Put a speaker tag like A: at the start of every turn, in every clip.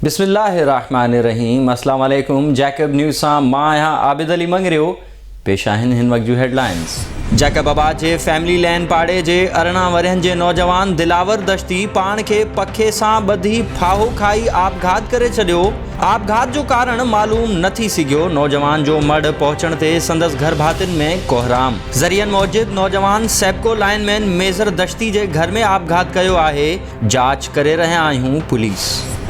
A: بسم الله الرحمٰن الرحيم اسلام عليڪم جيڪب نيوز سان مان آهيان عابد علي مڱريو پيش آهن هن وقت جون هيڊلائنز جيڪب آباد جي فيملي لين پاڙي جي ارڙهن ورهين جي نوجوان دلاور دشتي پاڻ کي پکي سان ٻڌي ڦاهو کائي آپگهات ڪري ڇڏيو آپگهات جو ڪارڻ معلوم نه ٿي سگهيو، نوجوان جو مڙهه پهچڻ تي سندس گهرڀاتين ۾ ڪوهرام، ذريعن موجب نوجوان سيپڪو لائن مين ميزر دشتي جي گهر ۾ آپگهات ڪيو آهي، جاچ ڪري رهيا آهيون، پوليس.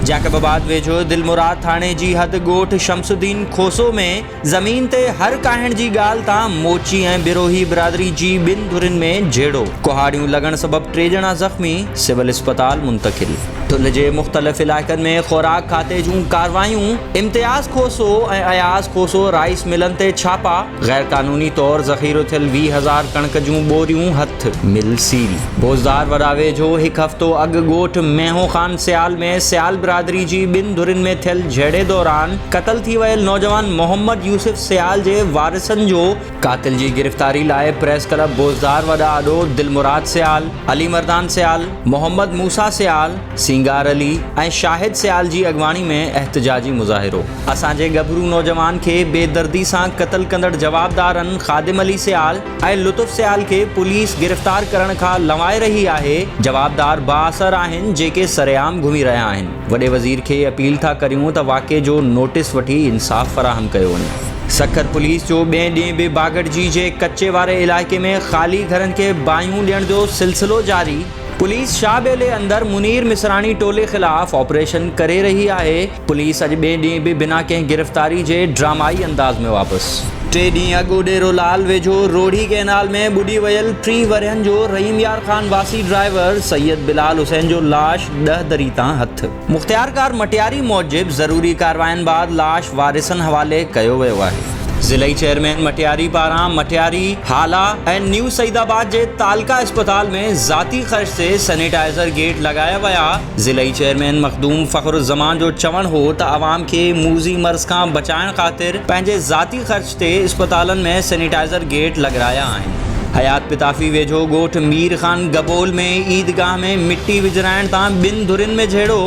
A: جيڪب آباد ويجهو دلمراد ٿاڻي جي حد ڳوٺ شمس الدين کوسو ۾ زمين تي هر ڪاهڻ جي ڳالهه تان موچي ۽ بروهي برادري جي ٻن ڌرين ۾ جهيڙو، ڪهاڙيون لڳڻ سبب ٽي ڄڻا زخمي، سول اسپتال منتقل. ٺلهه جي مختلف علائقن ۾ خوراڪ کاتي جون ڪارروايون، امتياز کوسو ۽ اياز کوسو رائيس ملن تي ڇاپا، غيرقانوني طور ذخيرو ٿيل ويهه هزار ڪڻڪ جون ٻوريون هٿ. هٿ مل سيل بوزدار وڏا ويجهو هڪ هفتو اڳ ڳوٺ مينهون خان سيال ۾ سيال برادري جي ٻن ڌرين ۾ ٿيل جهيڙي دوران قتل ٿي ويل نوجوان محمد يوسف سيال جي وارثن جو قاتل جي گرفتاري لاء پريس ڪلب بوزدار وڏا آڏو دلمراد سيال، علي مردان سيال، محمد موسيٰ سيال، سينگار علي ۽ شاهد سيال جي اڳواڻي ۾ احتجاجي مظاهرو. اسان جي ڳڀرو نوجوان کي بي دردي سان قتل ڪندڙ جوابدارن خادم علي سيال، ۽ لطف سيال کي پوليس گرفتار ڪرڻ کان لنوائي رهي آهي، جوابدار بااثر آهن جيڪي سرعام گهمي رهيا آهن، وڏي وزير کي اپيل ٿا ڪريون ته واقعي جو نوٽس وٺي انصاف فراهم ڪيو وڃي. سکر پوليس جو ٻئي ڏينهن به باگڙجي جي ڪچي واري علائقي ۾ خالي گهرن کي باهيون ڏيڻ جو سلسلو جاري، پوليس شاهه ٻيلي اندر منير مصراڻي ٽولي خلاف آپريشن ڪري رهي آهي، پوليس اڄ ٻئي ڏينهن به بنا ڪنهن گرفتاري جي ڊرامائي انداز ۾ واپس. ٽي ڏينهن اڳ اڏيرو لال ويجهو روهڙي ڪئنال ۾ ٻڏي ويل ٽيهه ورهين جو رحيم يار خان واسي ڊرائيور سيد بلال حسين جو لاش ڏهه دري تان هٿ. مختيارڪار مٽياري موجب ضروري ڪاررواين بعد لاش وارثن حوالي ڪيو ويو آهي. ضلعي چيئرمين مٽياري پاران مٽياري، هالا ۽ نيو سعيدآباد جي تعلقه اسپتال ۾ ذاتي خرچ تي سينيٽائيزر گيٽ لڳايا ويا، ضلعي چيئرمين مخدوم فخر الزمان جو چوڻ هو ته عوام کي موذي مرض کان بچائڻ خاطر پنهنجي ذاتي خرچ تي اسپتالن ۾ سينيٽائزر گيٽ لڳرايا آهن. حيات پتافي ويجهو ڳوٺ مير خان گبول ۾ عيدگاهه ۾ مٽي وجهرائڻ تان ٻن ڌرين ۾ جهيڙو.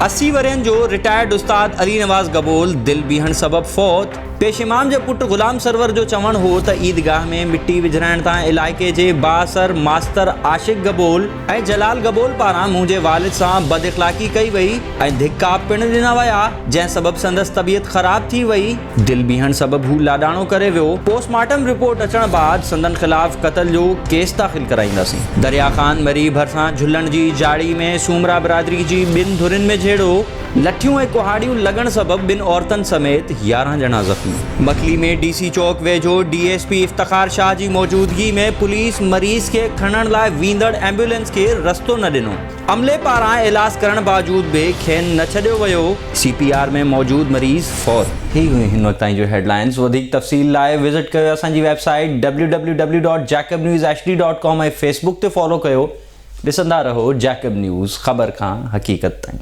A: اسي ورهين جو رٽائرڊ استاد علي نواز گبول دل بيهڻ سبب فوت. پيش امام جي پٽ غلام سرور جو چوڻ هو ته عيدگاهه ۾ مٽي وجهرائڻ تان علائقي جي بااثر ماستر عاشق گبول، ۽ جلال گبول پاران منهنجي والد سان بد اخلاقي ڪئي وئي ۽ ڌڪا پڻ ڏنا ويا، جنهن سبب سندس طبيعت خراب ٿي وئي. دل بيهڻ سبب هو لاڏاڻو ڪري ويو. پوسٽ مارٽم رپورٽ اچڻ بعد سندن خلاف قتل جو ڪيس داخل ڪرائينداسين. دريا خان مري ڀرسان جهلڻ جي جاڙي ۾ سومرا برادري جي ٻن ڌرين ۾ جهيڙو. لٺيون ۽ ڪهاڙيون لڳڻ سبب ٻن عورتن سميت يارهن ڄڻا زخمي. مڪلي ۾ ڊي سي چوڪ ويجهو D S P Iftikhar Shah جي موجودگي ۾ پوليس مريض کي کڻڻ لاء ويندڙ ايمبولينس کي رستو نه ڏنو، عملي پاران ايلاز ڪرڻ باوجود به کين نه ڇڏيو ويو، سي پي آر ۾ موجود مريض فوت. هي هيون هن وقت تائين جون هيڊلائنز وڌيڪ تفصيل لاء وزٽ ڪيو اسان جي website W W W dot Jacob news H D dot com ۽ Facebook تي فالو ڪيو. ڏسندا رهو جيڪب نيوز خبر کان حقيقت تائين.